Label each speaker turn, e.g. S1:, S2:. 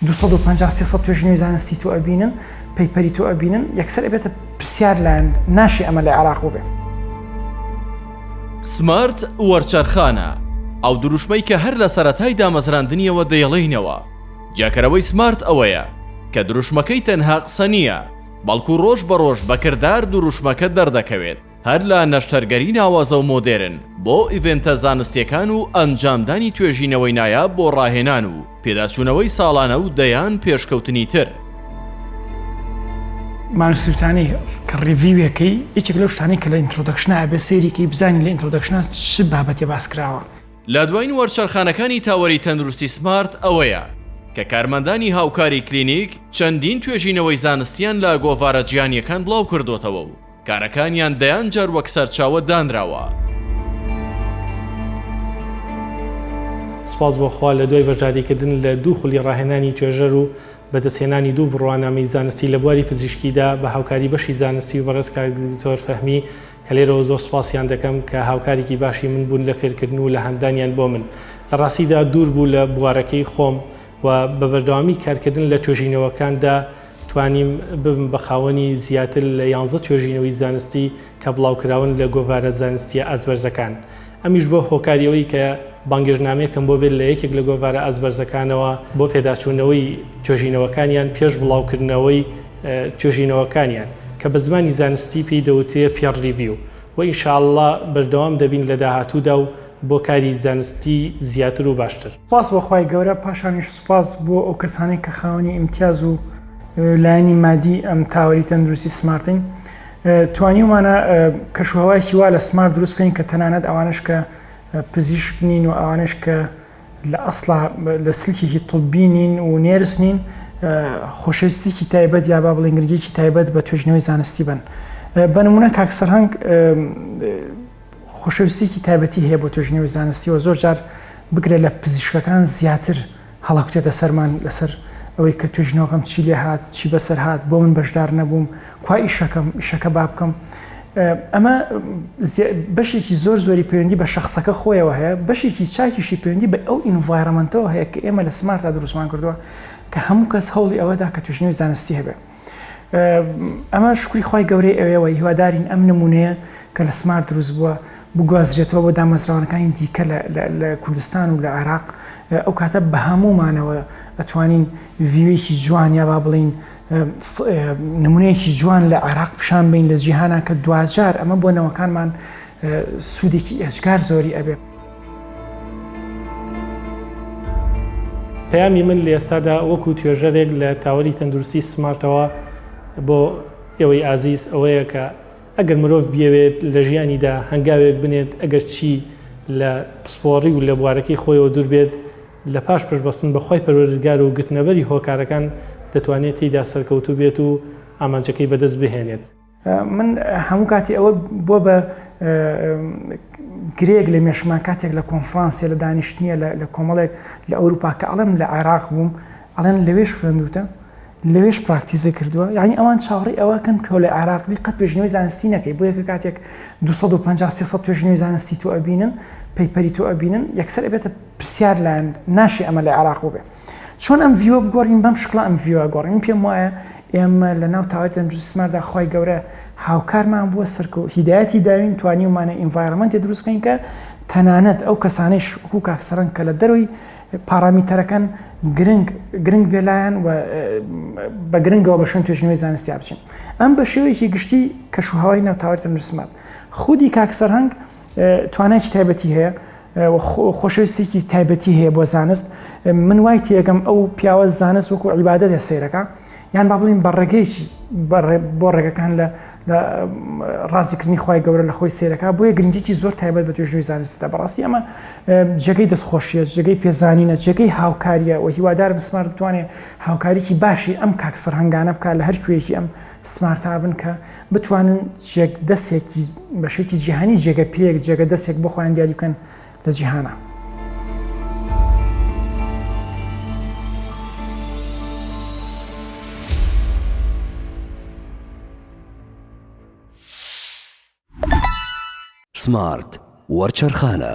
S1: دوو سەد و پەنجا سێ سەد توێژینەوەی زانستی تۆ ئەبینن پەیپەری تۆ ئەبینن یەکسەر ئەبێتە پرسیار لایەن ناشی ئەمە لە عێراق بووبێت.
S2: سمارت وەرچەرخانە، ئەو دروشمەی کە هەر لە سەرەتای دامەزراندنیەوە دەیڵێینەوە، جیاکەرەوەی سمارت ئەوەیە کە دروشمەکەی تەنها قسە نییە، بەڵکو ڕۆژ بە ڕۆژ بە کردار دروشمەکە دەردەکەوێت. هەر لە نەشتەرگەری ناوازە و مۆدێرن بۆ ئیڤێنتە زانستییەکان و ئەنجامدانی توێژینەوەی نایاب بۆ ڕاهێنان و پێداچوونەوەی ساڵانە و دەیان پێشکەوتنی تر.
S1: مانوس سویتانی کە ڕیڤیوێکەی یەکێک لەو شتانەی کە لە ئینترۆدەکشنا ئەبێ سەیری کەی بزانین لە ئینترۆدەکشنا چ بابەتێ باس کراوە. لە دواین
S2: وەرچەرخانەکانی تاوەری تەندروستی سمارت ئەوەیە کە کارمەندانی هاوکاری کلینیک چەندین توێژینەوەی زانستییان لە گۆڤارە جیهانییەکان بڵاو کردۆتەوە و کارەکانیان دەیان جار وەک سەرچاوە دانراوە.
S3: سوپاس بۆ خوا لە دوای بەشداریکردن لە دوو خولی ڕاهێنانی توێژەر و بەدەستهێنانی دوو بڕوانامەی زانستی لە بواری پزیشکیدا بە هاوکاری بەشی زانستی و بەڕێز کاک دکتۆر فەهمی کە لێرەوە زۆر سوپاسیان دەکەم کە هاوکارێکی باشی من بوون لە فێرکردن و لە هاندانیان بۆ من لە ڕاستیدا دوور بوو لە بوارەکەی خۆم و بە بەردەوامی کارکردن لە توێژینەوەکاندا توانیم ببم بە خاوەنی زیاتر لە یانزە توێژینەوەی زانستی کە بڵاوکراون لە گۆڤارە زانستیە ئازبەرزەکان ئەمیش بۆ هۆکاریەوەی کە بانگێژنامەیەکم بۆ بێت لە یەکێک لە گۆڤارە ئازبەرزەکانەوە بۆ پێداچوونەوەی توێژینەوەکانیان پێش بڵاوکردنەوەی توێژینەوەکانیان کە بە زمانی زانستی پێی دەوترێ پێڕ ریڤیو و ئینشاءاللە بەردەوام دەبین لە داهاتوودا و بۆ کاری زانستی زیاتر و باشتر. سوپاس بۆ خوای گەورە
S1: پاشانیش سوپاس بۆ ئەو کەسانەی کە خاوەنی ئیمتیاز و لایەنی مادی ئەم تاوەری تەندروستی سمارتین توانیومانە کەشوهوایکی وا لە سمار دروست بین کە تەنانەت ئەوانش کە پزیشک نین و ئەوانش کە لە ئەسڵا لە سلکێکی طببی نین و نێرس نین خۆشەویستێکی تایبەت یا با بڵنگرگێکی تایبەت بە توێژنەوەی زانستی بن بەنمونە کاکسەرهنگ خۆشەویستیەکی تایبەتی هەیە بۆ توێژینەوەی زانستی و زۆر جار بگرە لە پزیشکەکان زیاتر هەڵەکوتێتە سەرمان لەسەر ئەوەی کە توێژینەوەکەم چی لێ هات چی بەسەر هات بۆ من بەشدار نەبووم کوا ئیشەکەم ئیشەکە با بکەم ئەمە بەشێکی زۆر زۆری پەیوەندی بە شخصەکە خۆیەوە هەیە بەشێکی چاکیشی پەیوەندی بە ئەو ئینڤایرمنتەوە هەیە کە ئێمە لە سمارتا دروستمان کردووە کە هەموو کەس هەوڵی ئەوەدا کە توژنی زانستی هەبێت ئەمە شکری خی گەورەی ئەوێەوە هیوادارین ئەم نمونەیە کە لە سمار دروست بووە بگوازرێتەوە بۆ دامەزراوانەکانی دیکە لە کوردستان و لە عێراق ئەو کاتە بە هەموومانەوە ئەتوانین ڤیوێکی جوان یا با بڵین نمونەیەکی جوان لە عێراق پیشان بین لە جیهانە کە دواجار ئەمە بۆ نەوەکانمان سوودێکی ئێجگار زۆری ئەبێت.
S3: پەیامی من لە ئێستادا وەکو توێژەرێک لە تاوەری تەندروستی سمارتەوە بۆ ئێوەی ئازیز ئەوەیە کە ئەگەر مرۆڤ بیەوێت لە ژیانیدا هەنگاوێک بنێت ئەگەر چی لە پسپۆڕی و لە بوارەکەی خۆیەوە دوور بێت لە پاش پشبەستن بەخوای پەروەردگار و گرتنەبەری هۆکارەکان دەتوانێت تێیدا سەرکەوتوو بێت و ئامانجەکەی بەدەست بهێنێت. من
S1: هەموو کاتی ئەوە بۆ بە گرێک لە مێشمان کاتێک لە کۆنفرانسیە لە دانیشتنیە لە کۆمەڵێک لە ئەوروپا کە ئەڵم لە عێراق بووم ئەڵێن لەوێش خوێندوتە لەوێش پراکتیزە کردووە یعنی ئەوان چاڕی ئەوەکەن تۆ لە عراقبی قەت پێشنەوەی زانستی نەکەی بۆ یەکە کاتێک 250 توێژنەوەی زانستی تو ئەبینن پەیپەری تو ئەبینن یەکسەر بێتە پرسیار لایەن ناشی ئەمە لە عراق بێت چۆن ئەم ڤیوە بگۆڕین بەم شکڵە ئەم ڤیوە گۆڕین من پێم وایە ئێمە لە ناو تاوای تەندروستماندا خی گەورە هاوکارمان بووە سەرکە و هیدایەتی داوین توانیومانە ئینڤایرمنتی دروست بکەین کە تەنانەت ئەو کەسانش وەکو کاکسەرەن کە لە دەروی پارامیتەرەکەن گرنگ گرنگ بێلایەن و بە گرنگەوە بە شوێن توێژنەوەی زانستی بچین ئەم بە شێوەیەکی گشتی کەش و هەوای ناوتاوای تەندروستمان خودی کاکسەر هەنگ توانایکی تایبەتی هەیە و خۆشەویستێکی تایبەتی هەیە بۆ زانست من وای تێگەم ئەو پیاوە زانست وەکو عیبادە دە سیرەکە یان با بڵین بە ڕێگەیەکی بۆ ڕێگەکان لە ڕاستیکردنی خی گەورە لە خۆی سیرەکە بۆیە گرنگێکی زۆر تایبەت بە توێژوی زانستە بەڕاستی ئەمە جێگەی دەستخۆشیە جێگەی پێزانینە جێگەی هاوکاریە و هیوادار بسمار بتوانێت هاوکاریی باشی ئەم کاک سەرهنگانە بکات لە هەر کوێیەکی ئەم سمارت ئابن کە بتوانن جێگ دەسێکی بەشێکی جیهانی جێگە پێک جێگە دەسێک بۆ خۆیان دیاری بکەن لە جیهانە.
S4: سمارت وەرچەرخانە.